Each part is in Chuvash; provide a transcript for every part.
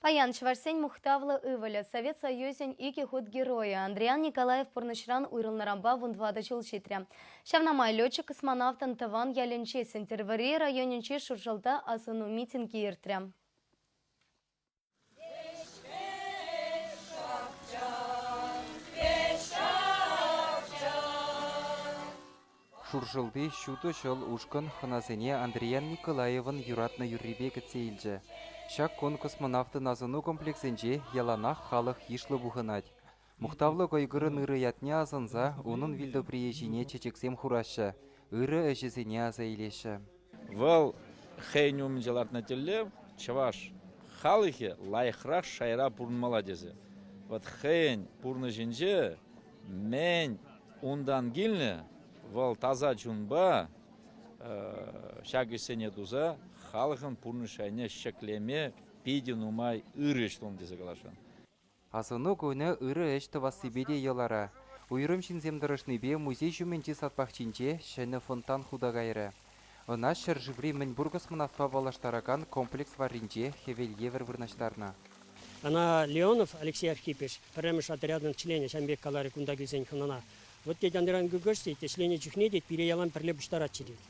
Паян чӑвашсен мухтавлӑ ывӑлӗ, Совет Союзӗн икӗ хут геройӗ Андриан Николаев пурнӑҫран уйрӑлнӑранпа вун тӑватӑ ҫул ҫитрӗ. Ҫавна май летчик-космонавтӑн тӑван ялӗнчи Сӗнтӗрвӑрри районӗнчи Шуршӑлта асӑну митингӗ иртрӗ. Шуршӑлти ҫутӑ ҫӑл ушкӑн хӑнасене Андриян Николаевӑн юратнӑ юррипе кӗтсе илчӗ. Ҫак кун космонавтӑн асӑну комплексӗнче яланах халӑх йышлӑ пухӑнать. Мухтавлӑ кӑйкӑрӑн ырӑ ятне асӑнса унӑн вилтӑприйӗ ҫине чечексем хураҫҫӗ, ырӑ ӗҫӗсене аса илеҫҫӗ. Вӑл хӑйӗн умӗнче лартнӑ тӗллев чӑваш халӑхӗ лайӑхрах шайра пурӑнмалла тесе. Вӑт хӑйӗн пурнӑҫӗнче мӗн унтан килнӗ, вӑл таса чунпа ҫак ӗҫсене туса халӑхӑн пурнӑҫ шайне ҫӗклеме питӗ нумай ырӑ ӗҫ тунӑ тесе каласшӑн. Асӑну кунӗ ырӑ ӗҫ тӑвассипе те йӑлара. Уйрӑм ҫынсем тӑрӑшнипе музей ҫумӗнчи сад пахчинче ҫӗнӗ фонтан хута кайрӗ. Ӑна ҫӗршыври мӗнпур космонавтпа паллаштаракан комплекс варринче хӗвел евӗр вырнаҫтарнӑ. Ӑна Леонов Алексей Архипыч, пӗрремӗш отрядӑн членӗ, ҫам пек каларӗ кунта килсен хӑнана. Вӑт тет анран Гыгыш тет, ӗҫленӗ чухне тет пире ялан пӗрле пуҫтаратчӗ тет.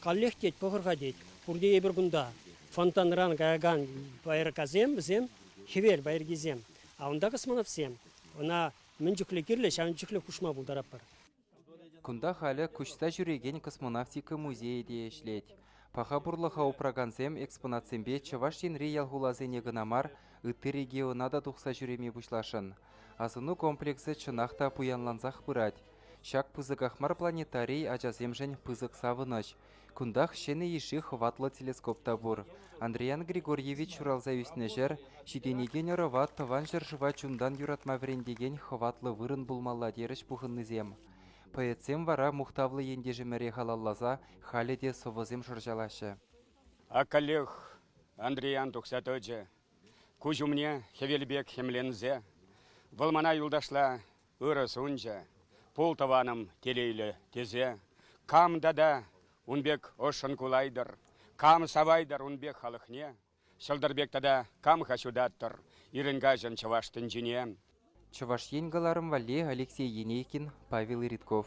Каллех тет, пӑхӑр-ха тет, пурте эпир кунта. Фонтанран каякан байракасем вӗсем хӗвел пайӑркисем, а унта космонавтсем. Ӑна мӗн чухлӗ кирлӗ, ҫавӑн чухлӗ хушма пултаратпӑр. Кунта халӗ куҫса ҫӳрекен космонавтика музейӗ те ӗҫлет. Паха пурлӑха упракансем экспонатсемпе Чӑваш Енри ял-хуласене кӑна мар, ытти региона та тухса ҫӳреме пуҫласшӑн. Асӑну комплексӗ чӑнах та пуянлансах пырать. Ҫак пысӑках мар планетарий ачасемшӗн пысӑк савӑнӑҫ, Кунтах ҫӗнӗ йышши хӑватлӑ телескоп та пур. Андриян Григорьевич ҫуралса ӳснӗ ҫӗр, ҫитӗнекен ӑрӑва Тӑван ҫӗршыва чунтан юратма вӗрентекен хӑватлӑ вырӑн пулмалла терӗҫ пухӑннисем. Поэтсем вара мухтавлӑ ентешӗмӗре халалласа халӗ те сӑвӑсем шӑрҫалаҫҫӗ. Ак каллех Андриян тухса тӑчӗ куҫ умне хӗвел пек хӗмленсе. Вӑл мана юлташла Ырӑ сунчӗ, пултӑванӑм, телейлӗ, тесе кам тата ун пек ӑшшӑн кулайтӑр, кам савайтӑр ун пек халӑхне, ҫӑлтӑр пек тата кам-ха ҫутаттӑр ирӗн-каҫӑн чӑваш тӗнчине? Чӑваш Ен кӑларӑм валли Алексей Енейкин, Павел Редков.